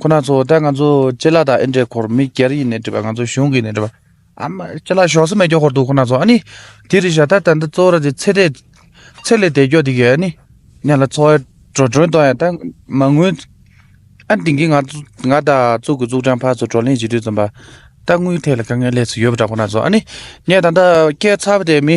ཁོ་ན་ཚོ་ད་ང་ཚོ་སྤྱི་ལ་དང་ཨེ་འདྲེ་འཁོར་མི་སྒེར་ཡིན་ནས་བྲིས་པ་ང་ཚོ་གཞུང་གིས་ནས་བྲིས་པ་ཨ་མ་སྤྱི་ལ་ཞོགས་སུ་མེད་རྒྱོ་འཁོར་འདུག་ཁོ་ན་ཚོ་ཨ་ནི་དེ་རི་ཞྭ་ད་ད་འདི་ཙོ་ར་དེ་ཚེ་དེ་ཚེ་ལས་དེ་རྒྱོ་དེ་གི་ཨ་ནི་ཉ་ལ་ཚོ་ཨེ་འགྲོ་འགྲོན་དོ་ཡང་ད་མ་དངུལ་ཨ་དེང་གི་ང་ཚོ་ང་ད་ཙུག་གི་ཙུག་ཀྲང་ཕ་ཚོ་བགྲོ་གླེང་བྱེད་དུས་ཙམ་པ་ད་དངུལ་ཐད་ལ་དཀའ་ངལ་ལས་སུ་ཡོད་པ་འདྲ་ཁོ་ན་ཚོ་ཨ་ནི་ངས་ད་ད་སྐད་ཚ་བ་དེ་མི་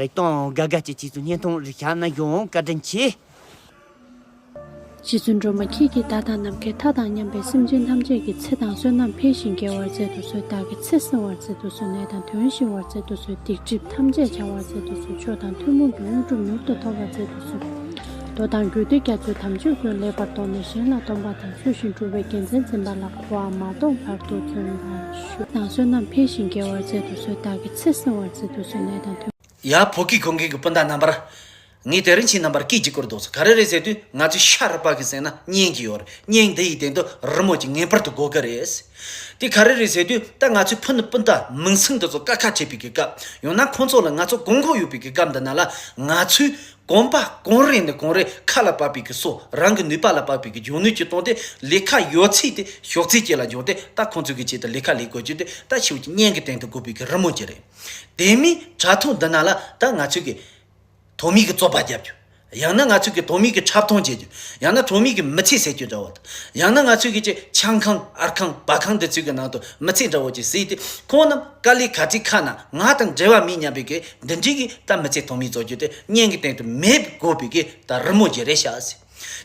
རིག་སྟོང་དགའ་དགའ་སྐྱིད་སྐྱིད་ཚུལ་བསྙན་ཐུང་རིག་ཞགས་ན་ཡོང་བཀའ་དྲིན་ཆེ། རྗེ་བཙུན་སྒྲོལ་མ་ཁྱེད་ཀྱིས་བདག་དང་ནམ་མཁའི་མཐའ་དང་མཉམ་པའི་སེམས་ཅན་ཐམས་ཅད་ཀྱི་ཚེ་དང་བསོད་ནམས་འཕེལ་ཞིང་རྒྱས་བར་མཛད་དུ་གསོལ་བདག་གི་ཚེ་བསྲིང་བར་མཛད་དུ་གསོལ་ནད་དང་དོན་ཞི་བར་མཛད་དུ་གསོལ་སྡིག་སྒྲིབ་ཐམས་ཅད་བྱང་བར་མཛད་དུ་གསོལ་མཆོག་དང་ཐུན་མོང་གི་དངོས་གྲུབ་མྱུར་དུ་ཐོབ་པར་མཛད་དུ་གསོལ། མདོ་དང་རྒྱུད་སྡེ་རྒྱ་མཚོའི་དམ་ཆོས་ཀུན་ལེགས་པར་རྟོགས་ནས་གཞན་ལ་སྟོན་པ་དང་ཚུལ་བཞིན་སྒྲུབ་པའི་རྒྱལ་མཚན་འཛིན་པ་ལ་གོ་བ་མ་གཏོགས་བར་དུ་བརྩོན་པ། ཆུ་དང་བསོད་ནམས་འཕེལ་ཞིང་རྒྱས་བར་མཛད་དུ་གསོལ་བདག་གི་ཚེ་བསྲིང་བར་མཛད་དུ་གསོལ་ནད་དང་མཐུན། ཡང་བོད་ཀྱི་གུར་མཁན་གྱི་སྤུན་ཟླ་རྣམ་པར། ངས་དེ་རིང་ཕྱིའི་རྣམ་པར་སྐད་ཅིག་གུར་བཟློག་ཚུལ་ག་རེ་རེད་ཟེར་དུས་ང་ཚོའི་ཤ་རུ་པགས་ཀྱི་གསེང་ན་བསྙལ་གྱི་ཡོད་རེད་བསྙལ་འདི་ཡི་སྟེང་དུ་རི་མོ་གཅིག་ངེས་པར་དུ་འགོད་གི་རེད། དེ་ག་རེ་རེད་ཟེར་དུས་ད་ང་ཚོའི་ཕུ་ནུ་སྤུན་ཟླ་མིང་སྲིང་འདི་ཚོ་དཀའ་ཁག་ཆེ་བུའི་གི་སྐབས་ཡང་ན་ཁོང་ཚོ་ལ་ང་ཚོ་དགོངས་འཁོར་ཡོད་པའི་གི་སྐབས་འདི་ན་ལ་ང་ཚོས་གོང་པ་གོང་རིམ་ནས་གོང་རིམ་ཁ་ལ་བབས་པའི་གི་སོགས་རང་གི་ནུས་པ་ལ་བབས་པའི་གི་འཇོན་ནུས་ཀྱིས་བཏང་སྟེ་ལས་ཁ་ཡོད་ཚད་དེ་ཞོགས་རྩིས་བཅས་ལ་འཇོག་སྟེ་ད་ཁོང་ཚོས་གི་ཆེད་དུ་ལས་ཁ་ལས་དགོས་ཀྱི་དེ་ད་ཕྱིའུ་ཀྱི་བརྙན་གི་སྟེང་དུ་དགོས་པའི་གི་རི་མོ་གྱི་རེད། དེ་མིན་དྲ་ཐོག་འདི་ན་ལ་ད་ང་ཚོས་གི། ཐོག་མིའི་གི་རྩོད་པ་རྒྱབ་རྒྱུ། ཡང་ན་ང་ཚོས་གི་ཐོག་མིའི་གི་འཁྲབ་སྟོན་བྱེད་རྒྱུ། ཡང་ན་ཐོག་མིའི་གི་མི་ཚེ་ཟེར་རྒྱུ་འདྲ་བོ་དང། ཡང་ན་ང་ཚོས་གི་ཆེད་ཆང་ཁང་ཨར་ཁང་བ་ཁང་འདི་ཚོའི་གི་ནང་དུ་མི་ཚེ་འདྲ་བོ་ཅིག་བཟོས་ཏེ་ཁོང་རྣམས། ཀཱ་ལིའི་གར་ཁྲིད་ཁག་ནང་ང་དང་འབྲེལ་བ་མེད་སྙམ་པའི་གིས་འདི་འདྲིའི་གིས་གཏམ་མི་ཚད་ཐོག་མའི་རྫོགས་རྒྱུ་དེ་བརྙན་གྱི་སྟེང་དུ་མེད་དགོས་པའི་གིས་ད་རི་མོ་བརྒྱད་རེ་བཞག་ཟེར།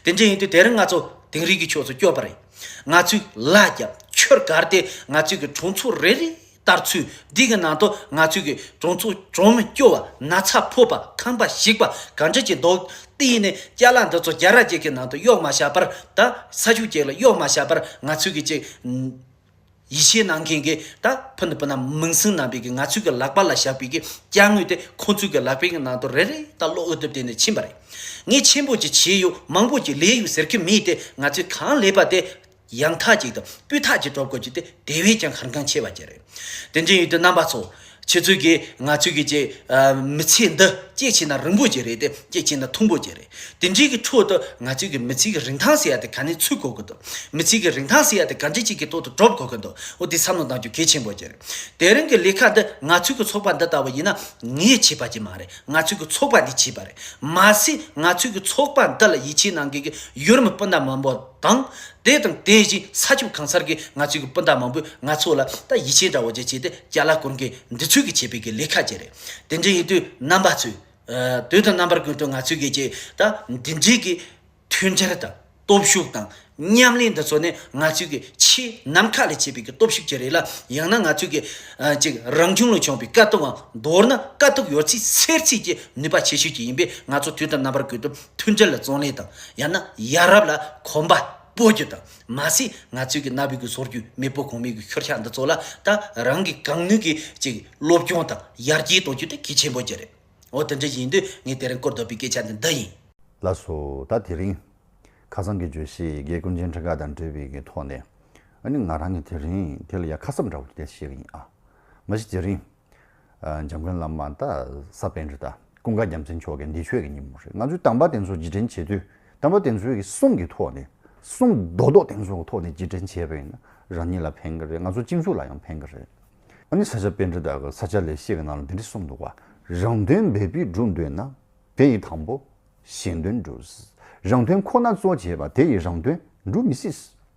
དེ་འདྲ་ཡིན་དུས་དེ་རིང་ང་ཚོ་དིང་རི་གི་ཕྱོགས་སུ་བསྐྱོད་པ་རེད། ང་ཚོས་ལ་རྒྱ་ཆོས་སྒར་དེ་ང་ཚོས་གི་གྲོང་ཚོ་རེ་རེ་ལྟར་ཚུད་འདི་གི་ནང་དུ་ང་ཚོས་གི་གྲོང་ཚོ་གྲོང་མི་སྐྱོ་བ་ན་ཚ་ཕོ་པ་ཁམས་པ་ཞིག་པ་ག་འདྲ་ཀྱི་འདུག་དེ་ཡིན་ནས་སྐྱ་ལག་འདི་ཚོ་རྒྱ་ར་རྒྱལ་ཁའི་ནང་དུ་གཡོག་མ་བཞག་པར་ད་ས་ཆུ་རྒྱལ་ལ་གཡོག་མ་བཞག་པར་ང་ཚོས་གི་ཅིག་ཡིད་ཆེས་གནང་མཁན་གྱི་ད་ཕུན་དུ་བུ་རྣམས་མིང་སྲིང་རྣམ་པས་ཀྱི་ང་ཚོའི་ཀྱི་ལག་པ་ལ་བཞག་པའི་ཀྱི་སྐྱ་དངོས་དེ་ཁོ་ཚོའི་ཀྱི་ལག་པའི་ཀྱི་ནང་དུ་རེ་རེ་ད་ལོག་འོས་བསྡུ་དེ་ནས་ཕྱིན་པ་རེད། ངས་ཆེན་པོ་ཀྱི་བྱས་ཡོད་མང་པོ་ཀྱི་ལས་ཡོད་ཟེར་ཀྱི་མེད་དེ་ང་ཚོའི་གང་ལས་པ་དེ་ཡང་ཐག་ཅིག་དང་སྤུས་ཐག་ཅིག་གྲོབ་དགོས་ཀྱི་དེ་དེ་བས་ཀྱང་ཧར་འགངས་ཆེ་བ་ཀྱི་རེད། དེ་འདྲའི་ཡུལ་དུ་རྣམ་པ་ཚོ་ཁྱེད་ཚོས་ཀྱིས་ང་ཚོས་ཀྱིས་ཅེས། མི་ཚེ་འདི་སྐྱེད་བྱེད་ན་རིང་པོ་ཅིག་རེད་དེ་སྐྱེད་བྱེད་ན་ཐུང་པོ་ཅིག་རེད། དེ་འདྲའི་གི་ཁྲོད་དུ་ང་ཚོས་ཀྱིས་མི་ཚེ་གི་རིན་ཐང་ཟེར་ཡ་དེ་ག་ནས་ཚུད་གོ་གི་འདུག་མི་ཚེ་གི་རིན་ཐང་ཟེར་ཡ་དེ་ག་འདྲི་ཅིག་གི་ཐོག་ཏུ་གྲོབ་གོ་གི་འདུག་འོ་དེ་བསམ་བློ་གཏང་རྒྱུ་གལ་ཆེན་པོ་ཅིག་རེད། དེ་རིང་གི་ལས་ཁ་འདི་ང་ཚོས་ཀྱི་ཚོགས་པ་འདི་ལྟ་བུ་ཡིན་ན་ངས་བྱས་པ་ཅིག་མ་རེད་ང་ཚོས་ཀྱི་ཚོགས་པ་འདིས་བྱས་པ་རེད། མ་ཟད་ང་ཚོས་ཀྱི་ཚོགས་པ་འདི་ལ་ཡིད་ཆེས་གནང་མཁན་གྱི་ཡུལ་མི་སྤུན་ཟླ་མང་པོ། དང། དེ་དང་དེ་བཞིན་ས་ཕྱོགས་གང་སར་གྱི་ང་ཚོའི་སྤུན་ཟླ་མང་པོས་ང་ཚོ་ལ་ད་ཡིད་ཆེས་འདྲ་བོ་ཅིག་བྱས་ཏེ་བསྐྱལ་ལ་ཀུན་གྱིས་འདི་ཚོས་གི་བྱས་པའི་གི་ལས་ཁ་ཅིག་རེད། དེ་འདྲ་ཡིན་དུས་རྣམ་པ་ཚོས། དོན་དུ་རྣམ་པར་ཀུན་ཏུ་ང་ཚོས་གི་ཅིག་ད་འདི་འདྲའི་གི་མཐུན་སྦྱར་དང་སྟོབས་ཤུགས་དང་མཉམ་ལས་འདི་ཚོ་ནི་ང་ཚོའི་གི་ཆེས་ནམ་མཁའ་ལས་ཆེ་བའི་གི་སྟོབས་ཤུགས་ཅིག་རེད་ལ་ཡང་ན་ང་ཚོའི་གི་ཅིག་རང་བྱུང་ལས་བྱུང་བའི་དཀའ་སྟུག་འང་མདོར་ན་དཀའ་སྟུག་ཡོད་ཚད་སེལ་ཚད་ཀྱི་ནུས་པ་ཆེ་ཤོས་ཅིག་ཡིན་པས་ང་ཚོ་དུས་དང་རྣམ་པར་ཀུན་ཏུ་མཐུན་སྒྲིལ་ལ་བརྩོན་ལེན་དང་ཡང་ན་ཡ་རབས་ལ་གོམ་པ་སྤོ་རྒྱུ་དང་མ་ཟད་ང་ཚོའི་གི་གནའ་བོའི་གི་སོར་རྒྱུན་མེས་པོ་གོང་མའི་གི་ཤོར་ཤག་འདི་ཚོ་ལ་ད་རང་གི་གང་ནུས་གི་ཅིག་སློབ་སྐྱོང་དང་ཡར་རྒྱས་གཏོང་རྒྱུ་དེ་གལ་ཆེན་པོ་གྱི་རེད། འོ་དེ་འདྲ་ཡིན་དུས་ངས་དེ་རིང་བཀོད་འདོད་པའི་སྐད་ཆ་འདི་འདི་ཡིན། ལ་སོ་ད་དེ་རིང། ཁ་སང་གི་བརྗོད་གཞི་དགེ་སྐུ་མཇལ་འཕྲད་ཁག་དང་འབྲེལ་བའི་གི་ཐོག་ནས། ཨ་ནི་ང་རང་གི་དེ་རིང་དེ་ལ་ཡ་ཁ་གསབ་འདྲ་བོ་དེ་བྱས་གི་ཡིན་ཨ། མ་གཞི་དེ་རིང། འཇམ་མགོན་བླ་མ་ད་ས་བན་རི་དང་ཀུན་དགའ་རྒྱ་མཚན་མཆོག་གི་འདི་ཆོས་ཀྱི་ཉིན་མོ་རེད་ང་ཚོས་དམ་པ་དེ་ཚོ་རྗེས་དྲན་བྱེད་དུས་དམ་པ་དེ་ཚོའི་གསུང་གི་ཐོག་ནས་གསུང་རྡོག་རྡོག་དེ་ཚོའི་ཐོག་ནས་རྗེས་དྲན་བྱས་པ་ཡིན་ན་རང་ཉིད་ལ་ཕན་གི་རེད་ང་ཚོ་སྤྱི་མཚུགས་ལ་ཡང་ཕན་གི་རེད། ཨ་ནི་ས་སྐྱ་བན་རི་དག་གི་ས་སྐྱ་ལས་བཤད་གི་ནང་ལ་འདི་འདྲི་གསུངས་འདུག་བ་རང་དོན་འབད་པས་སྒྲུབ་འདོད་ན་དེ་ཡི་དང་པོ་གཞན་དོན་སྒྲུབས་རང་དོན་ཁོ་ན་གཙོ་བྱས་པ་དེ་ཡི་རང་དོན་འགྲུབ་མི་སྲིད།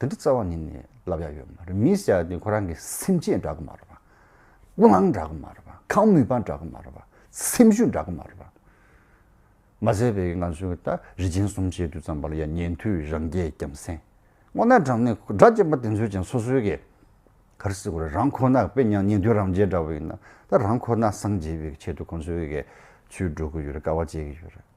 དེ་འདྲ་རྩ་བ་ནས་ནས་ལབ་ཡག་ཡོད་མ་རེད་མི་ཟེར་ཡག་དེ་ཁོ་རང་གི་སེམས་ཅན་འདྲ་གི་མ་རེད་པ། སྤུ་ལངས་འདྲ་གི་མ་རེད་པ་ཁང་མུད་པ་འདྲ་གི་མ་རེད་པ་སེམས་ཤུགས་འདྲ་གི་མ་རེད་པ། མ་ཟད་པའི་ང་ཚོའི་ད་རི་ཆེན་གསུམ་བཅད་དུས་ཙམ་པ་ལ་ཡ་ཉན་དུས་རང་རྒྱལ་རྒྱམ་སེང། སྔོ་ནག་དྲང་ནས་སྒྲ་བཅད་པ་དེ་ཚོའི་ཅན་སོ་སོའི་གི་གར་སི་གོ་རེད་རང་ཁོ་ནག་དཔེ་ཉག་ཉན་དུས་རང་རྒྱལ་འདྲ་བ་ཡིན་ན་ད་རང་ཁོ་ནག་སངས་རྒྱས་པའི་ཆེད་དུ་ཁོང་ཚོའི་གི་ཚུལ་འགྲོ་གི་ཡོད་རེད་དཀའ་བ་སྤྱད་གི་ཡོད་རེད།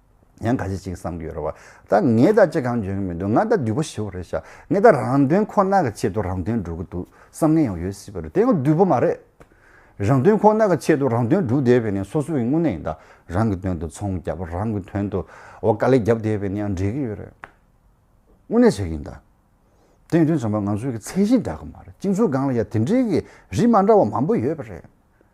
ཡང་ག་ཅི་ཞིག་བསམ་གྱི་ཡོད་རེད་བ། ད་ངས་ད་ཅི་གང་འཇོན་གྱི་མི་འདུག་ང་ད་བདུད་པོ་ཞི་བ་རེད་བྱ། ངས་ད་རང་དོན་ཁོ་ན་གི་ཆེད་དུ་རང་དོན་སྒྲུབ་ཀྱི་འདུག་བསམ་ངན་ཡང་ཡོད་སྲིད་པ་རེད་དེ་ཡང་བདུད་པོ་མ་རེད། རང་དོན་ཁོ་ན་གི་ཆེད་དུ་རང་དོན་སྒྲུབ་བསྡད་པས་ནི་སོ་སོ་ཡི་དངོས་གནས་ཡིན་ད། རང་གི་དོན་དུ་ཚོང་བརྒྱབ་རང་གི་དོན་དུ་བ་དཀའ་ལས་བརྒྱབ་བསྡད་པས་ནི་ཡང་འགྲིག་གི་ཡོད་རེད། དངོས་གནས་བྱེད་ཀྱི་ཡིན་ད། དེ་ཡིན་དུས་ཚང་མ་ང་ཚོའི་གི་ཚད་གཞི་འདྲ་གི་མ་རེད་སྤྱི་ཚོགས་སྒང་ལ་ཡང་དེ་འདྲའི་གི་རིགས་མ་འདྲ་བ་མང་པོ་ཡོད་པ་རེད།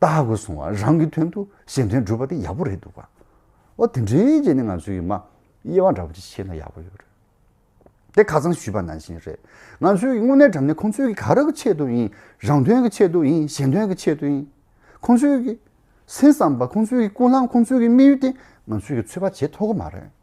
ལྟ་དགོས་གསུང་བ་རང་གི་དོན་དུ་གཞན་དོན་བསྒྲུབ་པ་དེ་ཡག་པོ་རེད་འདུག་བ། ཨོ་དེ་འདྲའི་རྗེས་ནས་ང་ཚོས་ཡུལ་མ་དབྱེ་བ་འདྲ་པོ་ཅིག་བྱས་ན་ཡག་པོ་ཡོད་རེད། དེ་ཁ་ཚང་ཞུས་པ་ནང་བཞིན་རེད། ང་ཚོས་དངོས་གནས་དྲ་གནས་ཁོང་ཚོའི་གི་ག་རེ་གི་ཆེད་དུ་ཡིན་རང་དོན་གི་ཆེད་དུ་ཡིན་གཞན་དོན་གི་ཆེད་དུ་ཡིན། ཁོང་ཚོའི་གི་སེམས་བསམ་པ་ཁོང་ཚོའི་གི་ཀུན་སླང་ཁོང་ཚོའི་གི་དམིགས་ཡུལ་དེ་ང་ཚོས་གི་ཚོད་དཔག་བྱེད་ཐོག་གི་མ་རེད།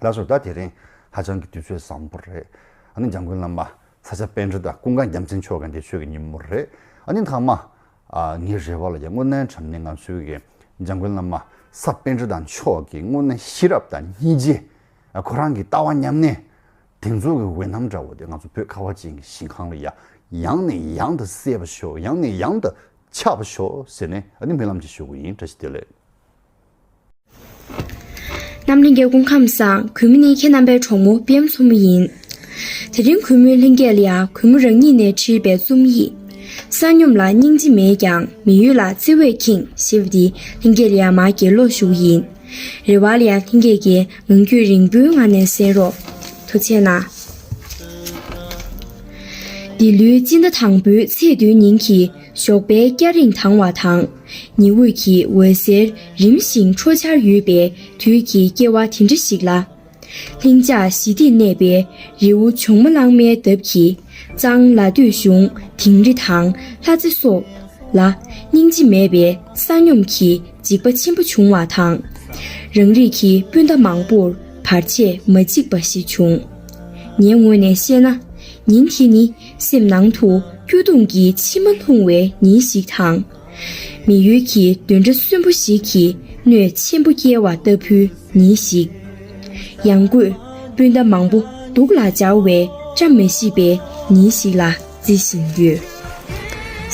ལགས་སོ་ད་དེ་རིང་ཧ་ཅང་གི་དུས་ཚོད་བཟང་པོ་རེད་ཨ་ནི་འཇང་དགུན་བླ་མ་ཚ་ཆ་དཔལ་འབྲི་དང་ཀུན་དགའ་རྒྱ་མཚན་ཆོས་དགའ་འདི་ཆོས་ཀྱི་ཉིན་མོ་རེད་ཨ་ནི་མཐའ་མ་ངའི་རེ་བ་ལ་ཡང་དངོས་གནས་དྲན་ནས་ང་ཚོའི་གི་འཇང་དགུན་བླ་མ་ཚ་དཔལ་འབྲི་དང་ཆོས་ཀྱི་དངོས་གནས་ཤེས་རབ་དང་སྙིང་རྗེ་ཁོ་རང་གི་ལྟ་བ་མཉམ་གནས་དེ་ཚོ་གི་འོད་སྣང་འདྲ་བོ་དེ་ང་ཚོ་བོད་ཁ་བ་ཅན་གྱི་ཞིང་ཁང་ལ་ཡང་ནས་ཡང་དུ་གསལ་བ་ཤོག་ཡང་ནས་ཡང་དུ་ཆགས་པ་ཤོག་ཟེར་ནས་ཨ་ནི་སྨོན་ལམ་ཅིག་ཞུ་གི་ཡིན་བཀྲ་ཤིས་བདེ་ལེགས། རྣམས་ལྷན་རྒྱས་སྐུ་ཁམས་བཟང། གུས་མོ་ནི་ཁྱེད་རྣམ་པའི་གྲོགས་མོ་པི་ཡམ་མཚོ་མོ་ཡིན། དེ་རིང་གུས་མོའི་ལྷན་རྒྱས་ལ་ཡང་གུས་མོ་རང་ཉིད་ནས་བྲིས་པའི་རྩོམ་ཡིག། བསང་སྙོམས་ལ་སྙིང་རྗེ་མེད་ཀྱང་མི་ཡུལ་ལ་བརྩེ་བས་ཁེངས་ཞེས་པ་འདི་ལྷན་རྒྱས་ལ་ཡང་མར་དགེ་སློབ་ཞུགས་ཡིན། རེ་བ་ལ་ཡང་ལྷན་རྒྱས་ཀྱིས་ངང་རྒྱུད་རིང་པོའི་ངང་ནས་གསན་རོགས། དུ་ཆེ་ན། འདི་ལོའི་སྤྱི་ཟླ་དང་པོའི་ཚེས་བདུན་ཉིན་གྱི་ཞོགས་པའི་སྐྱ་རེངས་དྭངས་བ་དང། ཉི་འོད་ཀྱི་འོད་ཟེར་རིམ་བཞིན་འཕྲོ་འཆར་ཡོད་པའི་དུས་ཀྱི་སྐྱེ་བ་དེ་འདྲ་ཞིག་ལ། ལྷིང་འཇགས་ཞི་བདེས་གནས་པའི་རི་བོ་ཇོ་མོ་གླང་མའི་འདབས་ཀྱི་གཙང་ལ་སྟོད་གཞུང་དིང་རི་དང་ལྷ་རྩེ་སོགས་ལ་སྙིང་རྗེ་མེད་པའི་བསང་སྙོམས་ཀྱི་འཇིགས་པ་ཆེན་པོ་བྱུང་བ་དང། རང་རིགས་ཀྱི་སྤུན་ཟླ་མང་པོར་བར་ཆད་མ་འཇིགས་པ་ཞིག་བྱུང། ངའི་ངོས་ནས་བཤད་ན་ཉིན་དེ་ནི་སེམས་ནང་དུ་སྐྱོ་གདུང་གི་མཆི་མ་ལྷུང་བའི་ཉིན་ཞིག་དང། མི་ཡུལ་གྱི་འདོན་འདྲ་གསོན་པོ་ཞིག་གིས་གནོད་ཆེན་པོ་བསྐྱལ་བ་ལྟ་བུའི་ཉིན་ཞིག། ཡང་སྒོས་སྤུན་ཟླ་མང་པོ་སྡུག་ལ་སྦྱར་བའི་བཀྲ་མི་ཤིས་པའི་ཉིན་ཞིག་ལ་བརྩི་བཞིན་ཡོད།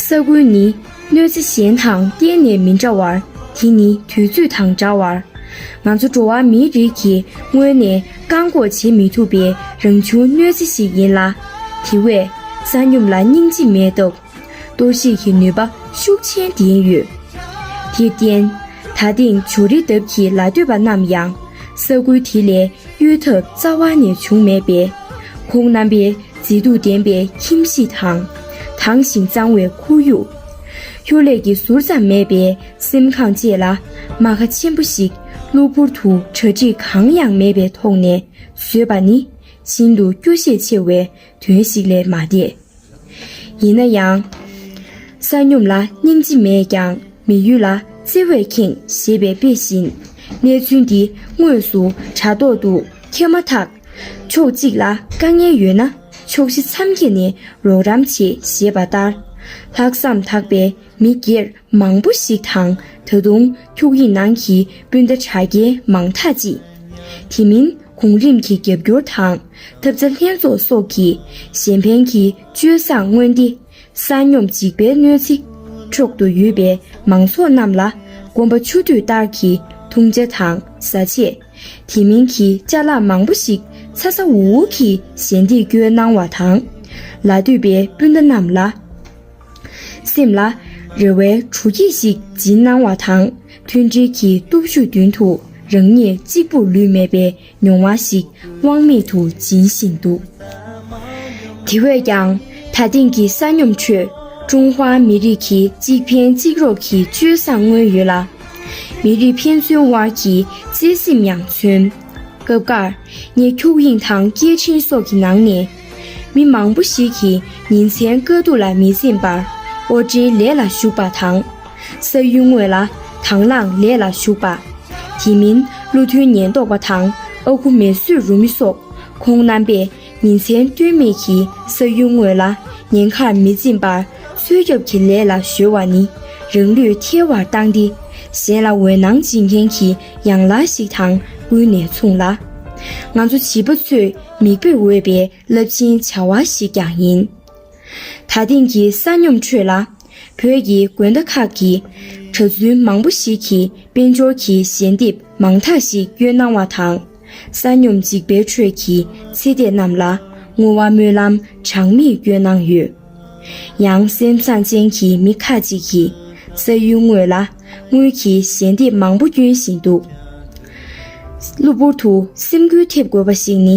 ས་ཁུལ་ནི། གནོད་འཚེ་གཞན་དང་གཏན་ནས་མི་འདྲ་བར་དེ་ནི་དུས་ཚོད་དང་འདྲ་བར། ང་ཚོ་འགྲོ་བ་མིའི་རིགས་ཀྱིས་སྔོན་ནས་བཀག་འགོག་བྱེད་མི་ཐུབ་པའི་རང་བྱུང་གནོད་འཚེ་ཞིག་ཡིན་ལ། དེ་བས། ས་སྙོམས་ལ་སྙིང་རྗེ་མེད་སྟབས། གཏོར་བཤིག་གི་ནུས་པ་ཤུགས་ཆེན་ལྡན་ཡོད། དེར་བརྟེན། ད་ཐེངས་ཇོ་རི་འདབས་ཀྱི་ལ་སྟོད་པ་རྣམས་ཡང། ས་ཁུལ་དེ་ལས་གཡོལ་ཐབས་རྩ་བ་ནས་བྱུང་མེད་པས། ཁོང་རྣམ་པའི་མཛེས་སྡུག་ལྡན་པའི་ཁྱིམ་གཞིས་དང། དྭངས་ཤིང་གཙང་བའི་ཁོར་ཡུག། གཡོ་ལས་ཀྱི་ཟུར་ཙམ་མེད་པའི་སེམས་ཁམས་བཅས་ལ་རྨ་ཁ་ཆེན་པོ་ཞིག་གློ་བུར་དུ་གྲ་སྒྲིག་གང་ཡང་མེད་པའི་ཐོག་ནས་བཟོས་པ་ནི་ཤིན་ཏུ་སྐྱོ་ཤས་ཆེ་བའི་དོན་ཞིག་ལས་མ་འདས། ཡིན་ན་ཡང། ས་སྙོམས་ལ་སྙིང་རྗེ་མེད་ཀྱང་མི་ཡུལ་ལ་བརྩེ་བས་ཁེངས་ཞེས་པའི་དཔེ་བཞིན། གནས་ཚུལ་འདི་དངོས་སུ་དྲ་ཐོག་ཏུ་ཁྱེར་མ་ཐག། ཕྱོགས་གཅིག་ལ་དཀའ་ངལ་ཡོད་ན་ཕྱོགས་བཞི་མཚམས་བརྒྱད་ནས་རོགས་རམ་བྱེད་ཞེས་པ་ལྟར། ལྷག་བསམ་དག་པའི་མི་སྒེར་མང་པོ་ཞིག་དང་ད་དུང་འཁྱུག་ཡིག་ནང་གི་སྤུན་ཟླ་དྲ་རྒྱའི་མང་དག་ཅིག། དེ་མིན་གོང་རིམ་གྱི་རྒྱབ་སྐྱོར་དང་ཐབས་རྩ་ལྷན་ཚོགས་སོགས་ཀྱིས་གཞན་ཕན་གྱི་སྤྱོད་བཟང་མངོན་ཏེ། ས་སྙོམས་འཇིགས་པའི་གནོད་འཚེ་འཕྲོག་ཏུ་ཡོད་པའི་མང་ཚོགས་རྣམས་ལ་དགོན་པ་ཆུ་དུས་ལྟར་གྱི་འཐུང་བྱ་དང་བཟའ་ཆས། དེ་མིན་གྱི་བཅའ་ལག་མང་པོ་ཞིག་ཚ་ཚ་འུར་འུར་གྱིས་ཞལ་འདེབས་སྐྱོན་གནང་བ་དང། ལ་སྟོད་པའི་སྤུན་ཟླ་རྣམས་ལ། སེམས་ལ། རེ་བའི་གྲུ་སྐྱེས་ཤིག་སྦྱིན་གནང་བ་དང་མཐུན་སྒྲིལ་གྱི་སྟོབས་ཤུགས་མདུན་དུ་རང་ཉིད་གཅིག་པུར་ལུས་མེད་པའི་མྱོང་བ་ཞིག་དབང་མེད་དུ་སྦྱིན་བཞིན་འདུག་དེ་བས་ཀྱང། ད་ཐེངས་ཀྱི་ས་སྙོམས་ཁྲོད་ཀྲུང་ཧྭ་མི་རིགས་ཀྱི་གཅིག་ཕན་གཅིག་རོགས་ཀྱི་སྤྱོད་བཟང་མངོན་ཡོད་ལ། མི་རིགས་ཕན་ཚུན་དབར་གྱི་བརྩེ་སེམས་ཡང་མཚོན། སྐབས་འགར། ངས་འཁྱུག་དབྱིངས་དང་སྐད་འཕྲིན་སོགས་ཀྱི་ནང་ནས། མི་མང་པོ་ཞིག་གིས་ཉིན་མཚན་དཀའ་སྡུག་ལ་མི་འཛེམ་པར་དབོར་འདྲེན་ལས་ལ་ཞུགས་པ་དང། ས་ཡུལ་དངོས་ལ་དང་བླངས་ལས་ལ་ཞུགས་པ། དེ་མིན་བློ་མཐུན་ཉེན་རྟོག་པ་དང་ཨ་ཁུ་མེ་གསོད་རུ་མི་སོགས་ཁོང་རྣམ་པས་ཉིན་མཚན་ལྟོས་མེད་ཀྱིས་ས་ཡུལ་དངོས་ལ་ཉེན་ཁར་མི་འཛེམ་པར་གསོད་རྒྱབ་ཀྱི་ལས་ལ་གཞོལ་བ་ནི་རང་ལུས་ཐལ་བར་བཏང་སྟེ་གཞན་ལ་འོད་སྣང་སྦྱིན་མཁན་གྱི་ཡང་ལག་ཞིག་དང་ཀུན་ནས་མཚུངས་ལ། ང་ཚོ་བྱིས་པ་ཚོས་མིག་དཔེར་འོས་པའི་རླབས་ཆེན་བྱ་བ་ཞིག་ཀྱང་ཡིན། ད་ཐེངས་ཀྱི་ས་སྙོམས་ཁྲོད་ལ། བོད་ཀྱི་དགོན་བདག་ཁག་གི་གྲྭ་བཙུན་མང་པོ་ཞིག་གིས་དཔལ་འབྱོར་གྱི་ཞལ་འདེབས་མང་དག་ཞིག་གཡོལ་གནང་བ་དང། ས་སྙོམས་འཇིགས་པའི་ཁྲོད་ཀྱི་ཚེ་འདས་རྣམས་ལ་བསྔོ་བ་སྨོན་ལམ་གྲངས་མེད་གཡོལ་གནང་ཡོད། ཡང་སེམས་བཟང་ཅན་གྱི་མི་ཁ་ཅིག་གིས་ས་ཡུལ་དངོས་ལ་དངུལ་གྱི་ཞལ་འདེབས་མང་པོ་སྐྱོན་བཞིན་འདུག་གློ་བུར་དུ་སེམས་འགུལ་ཐེབས་དགོས་པ་ཞིག་ནི།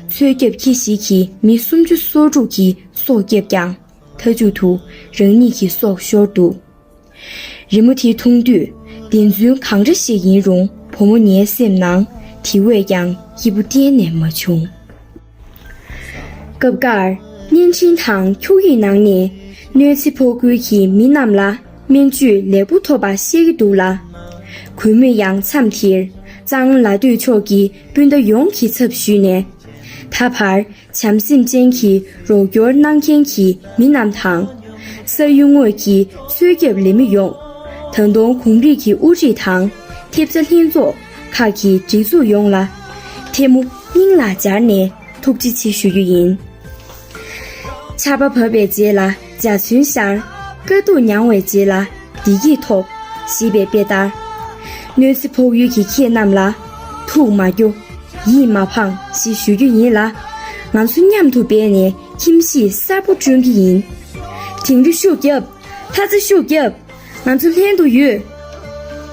མཚོའི་རྒྱབ་ཁྱི་ཞིག་གིས་མི་སུམ་ཅུ་སོ་དྲུག་གི་སྲོག་བསྐྱབས་ཀྱང། མཐའ་མཇུག་ཏུ་རང་ཉིད་ཀྱི་སྲོག་ཤོར་འདུག། རི་མོ་དེ་མཐོང་དུས་བདེན་རྫུན་གང་འདྲ་ཞིག་ཡིན་རུང་བུ་མོ་ངའི་སེམས་ནང་དེ་བས་ཀྱང་སྐྱིད་པོ་གཏན་ནས་མ་བྱུང། སྐབས་འགར་བརྙན་འཕྲིན་དང་འཁྱུག་ཡིག་ནང་ནས་གནོད་འཚེ་ཕོག་ཁུལ་གྱི་མི་རྣམས་ལ་སྨན་བཅོས་ལེགས་པོ་ཐོབ་པ་བཤད་ཀྱི་འདུག་ལ། གུས་མོས་ཡང་མཚམས་དེར་གཙང་ལ་སྡོད་ཕྱོགས་ཀྱི་སྤུན་ཟླ་ཡོངས་ཀྱི་ཚབ་ཞུས་ནས། ད་བར་བྱམས་སེམས་ཅན་གྱི་རོགས་སྐྱོར་གནང་མཁན་གྱི་མི་རྣམས་དང། ས་ཡུལ་དངོས་ཀྱི་འཚོལ་སྐྱབས་ལས་མི་ཡོངས། ད་དུང་གུང་རིགས་ཀྱི་དབུ་ཁྲིད་དང། ཐེབས་རྩ་ལྷན་ཚོགས་ཁག་གི་སྒྲིག་འཛུགས་ཡོངས་ལ། ཐལ་མོ་སྙིང་ལ་སྦྱར་ནས་ཐུགས་རྗེ་ཆེ་ཞུ་རྒྱུ་ཡིན། ཆར་པ་བབས་པའི་རྗེས་ལ་འཇའ་ཚོན་ཤར། དཀའ་སྡུག་མྱངས་བའི་རྗེས་ལ་བདེ་སྐྱིད་ཐོབ། ཞེས་པའི་དཔེ་ལྟར། གནོད་འཚེ་ཕོག་ཡུལ་གྱི་ཁྱེད་རྣམས་ལ། ཐུགས་མ་སྐྱོ། ཡིད་མ་ཕངས་ཞེས་ཞུ་རྒྱུ་ཡིན་ལ། ང་ཚོ་མཉམ་དུ་འབད་ནས་ཁྱིམ་གཞིས་གསར་པོ་སྐྲུན་གྱི་ཡིན། དེང་རི་ཤུགས་བརྒྱབ། ལྷ་རྩེ་ཤུགས་བརྒྱབ། ང་ཚོ་ལྷན་དུ་ཡོད།